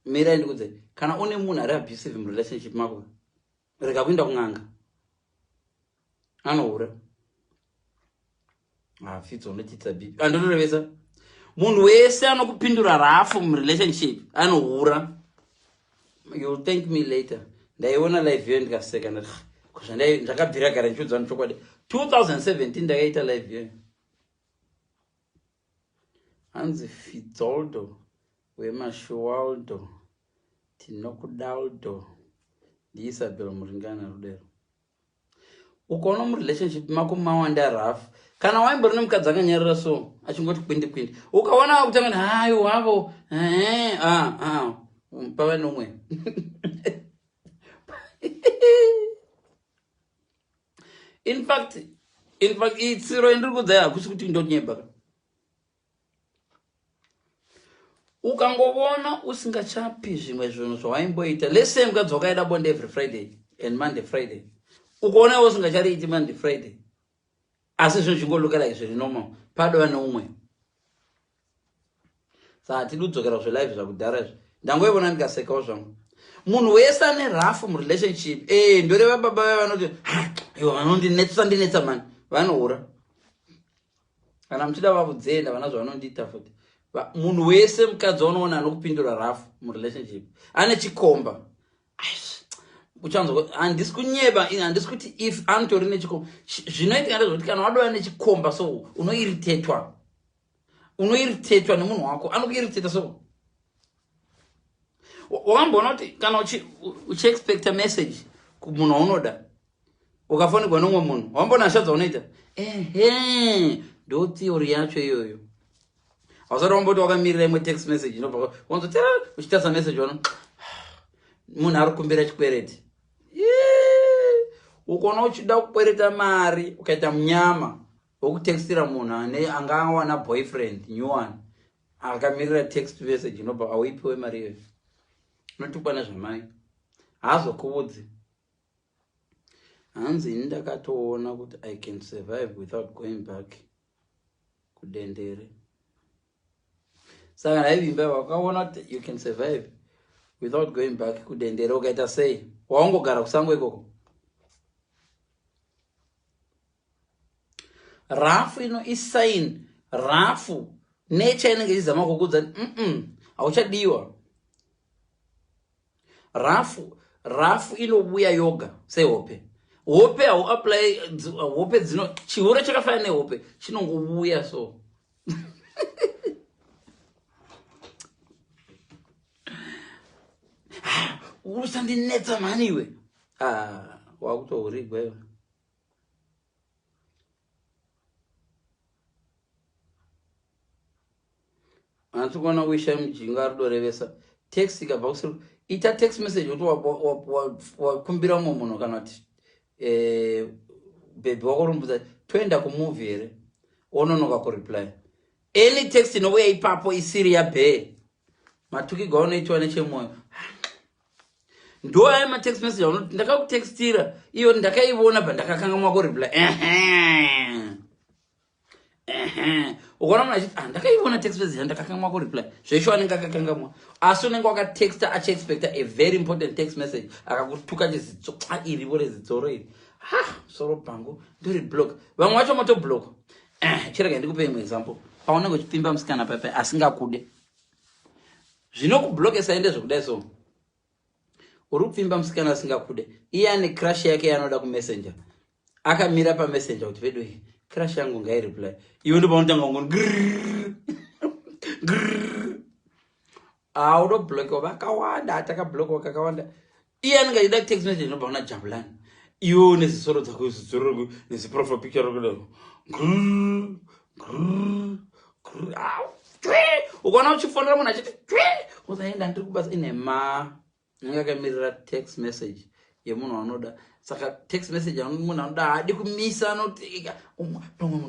mirai ndikudze kana une munhu ari abusive murelationship mako rega kuinda kun'anga anohura hafidza ah, unochiitisa bipi andotorevesa ah, munhu wese anokupindura rafu murelationship anohura youll thank me later ndaiona live yo ndikaseka ndati kuzvandai ndakabvira gara ndichiudzano chokwadi 2017 ndakaita live yo Hanzi Fitzoldo weMashuwaldo tinokudaldo ndiIsabel Muringana Rudero. Ukaona murelationship mako mawanda rough kana waimbori nemukadzi akanyarira so achingoti kwindi kwindi ukaona wakutanga kuti hayi wavo eh, ah, ah, mm, pava nomwe In fact, in fact, iyi tsiro yandiri kudzai hakusi kuti ndonyeba ka. Ukangovona usingachapi zvimwe zvinhu zvawaimboita. Let's say mukadzi wakaida bonde every Friday and Monday Friday. Ukaona iwe usingachariiti Monday Friday. Asi zvinhu zvingolukela izvi zviri normal. Padova neumwe. sa hatidi kudzokera zvelive zvakudhara izvi ndangoivona ndikasekawo zvangu munhu wese ane rafu murelationship e ndoreva baba vaya vanoti ivo vanondinetsa ndinetsa mani vanohura kana muchida vakudzenda vana zvavanondiita futi munhu wese mukadzi waunoona anokupindura rafu murelationship ane chikomba uchanzwa handisi kunyeba handisi kuti if anotori nechikomba zvinoitika ndezvekuti kana wadova nechikomba so unoiritetwa unoiritetwa nemunhu wako anokuiriteta so wamboona kuti kana uchiexpecta message kumunhu waunoda ukafonerwa nomwe munhu wamboona hasha dzaunoita ehe ndo theory yacho iyoyo hausati wamboti wakamirira imwe text message inobva wanzo tera uchitarisa message ono munhu ari kumbira chikwereti ukaona uchida kukwereta mari ukaita munyama wekutextira munhu ane anga awana boyfriend new one akamirira text message inobva auipiwe mari iyoyo unotukwa nezvamai haazokuvudzi hanzi ini ndakatoona kuti i can survive without going back kudendere saka ndaivimba wakaona kuti you can survive without going back kudendere ukaita sei waungogara kusango ikoko rafu ino isign rafu nature inenge ichizama kukudza mm hauchadiwa rafu rafu inobuya yoga sehope hope hauapply hope dzino chihure chakafanana nehope chinongobuya so usandinetsa mhani iwe ah, wakutourigwa iwe hanzi kuona kuisha mujinga rudo revesa text ikabva kusiri ita text message kuti wakumbira umwe munhu kana kuti eh, bhebhi wako rumbudza toenda kumuvi here ononoka kureply any text inouya ipapo isiri yabhee matukigwa unoitiwa nechemwoyo ndo aya matext message anoti ndakakutextira iyo ndakaiona bva ndakakanga mwako reply ukaona munhu achiti ah, ndakaiona text message yandakakanga mwako reply zvesho anenge akakangamwa asi unenge wakatexta achiexpecta a very important text message akakutuka chizidzo a iri vore zidzoro iri ha soro bhangu ndiri block vamwe vacho motoblock eh, chirega ndikupe imwe example paunenge uchipfimba musikana pape asingakude zvinokublokesai ndezvekudai so uri kupfimba musikana asingakude iye ane crush yake yaanoda kumessenger akamira pamessenger kuti vedu iyi crush yangu ngaireply iwe ndopaunotanga kungoni grrrr haudo ah, blokiwa vakawanda atakablokiwa kakawanda iye anenge achida text message inobva kuna jabulani iwe une zisoro dzako zidzororo neziprofile picture rokudaro ukaona uchifonera munhu achiti twe usaenda ndiri kubasa ine ma anenge akamirira text message yemunhu anoda saka text message munhu anoda haadi kumisa anoti pamwe munhu